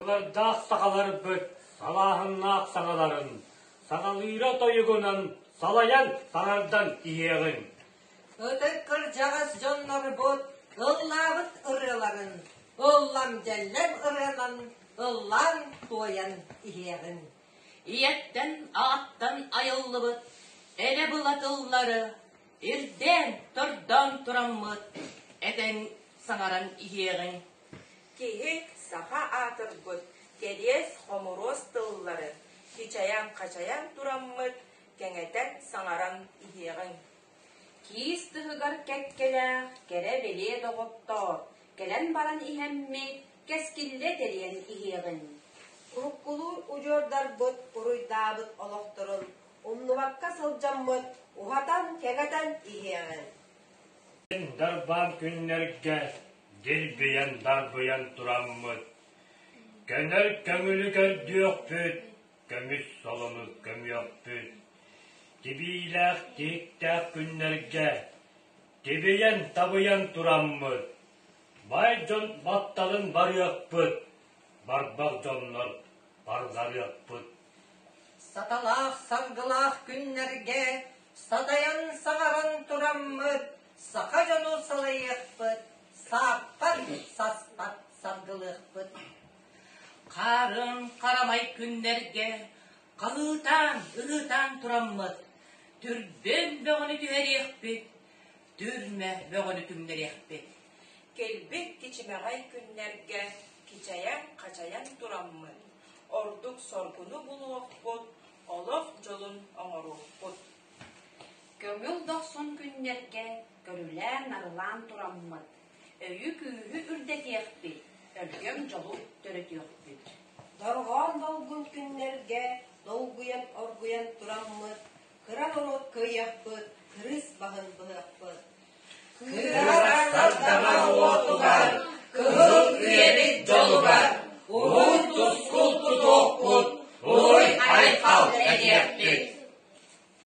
Былырдаах сахаларбыт салааһыннаах саҥаларын саҥалыыра тойугунан салайан таҥардан иһиэҕиҥ. Ытык кырдьаҕас дьоннорбут ыллаабыт ырыаларын ыллам дьэллэм ырыанан ыллаан туойан иһиэҕиҥ. Ийэттэн ааттан айыллыбыт эрэ была тыллары ирдээн тордоон тураммыт этэн саҥаран иһиэҕиҥ. Киһи саха аатырбыт кэриэс-хомуруос тыллары хичайан-хачайан тураммыт кэҥэтэн-саҥаран иһиэҕиҥ. Киис тыһыгар кэккэлээх кэрэ-билиэ доҕоттоор, кэлэн баран иһэммит кэскиллэ тэрийэн иһиэҕиҥ. Уруккулуур удьуордарбыт буруйдаабыт олохторун умнубакка сылдьаммыт уһатан-кэҥэтэн иһиэҕиҥ. Мин дарбаан күннэргэ дирбийэн дарбыйан тураммыт, көнөр көҥүлү көрдүөхпүт, көмүс солону көмүөхпүт. Тибиилээх тииктээх күннэргэ тибийэн-табыйан тураммыт, бай дьон батталын барыахпыт, барбах дьоннор барҕарыахпыт. Саталаах салгылаах күннэргэ садайан саҥаран тураммыт саха дьону салайыахпыт, сааппат саспат салгылыахпыт. Хаарын харамай күннэргэ халыытаан, ырыытаан тураммыт, түрбүн бөҕөнү түһэриэхпит, түрмэ бөҕөнү түҥнэриэхпит. Кэлбит кичимэҕэй күннэргэ кичэйэн-хачайан тураммыт, ордук соргуну булуохпут, олох дьолун оҥоруохпут. Көҥүл дохсун күннэргэ көрүлээн-нарылаан тураммыт, өйү-күүһү үрдэтиэхпит, өлгөм дьолу төрөтүөхпүт. Дорҕоон долгун күннэргэ долгуйан-оргуйан тураммыт, Кыра норуот кыйахпыт, кырыс баһын быһыахпыт. Кырараҥар таҥар уотугар, кыһыл үйэбит дьолугар, уһун тускул тутуохпут, уруй айхал этиэхпит.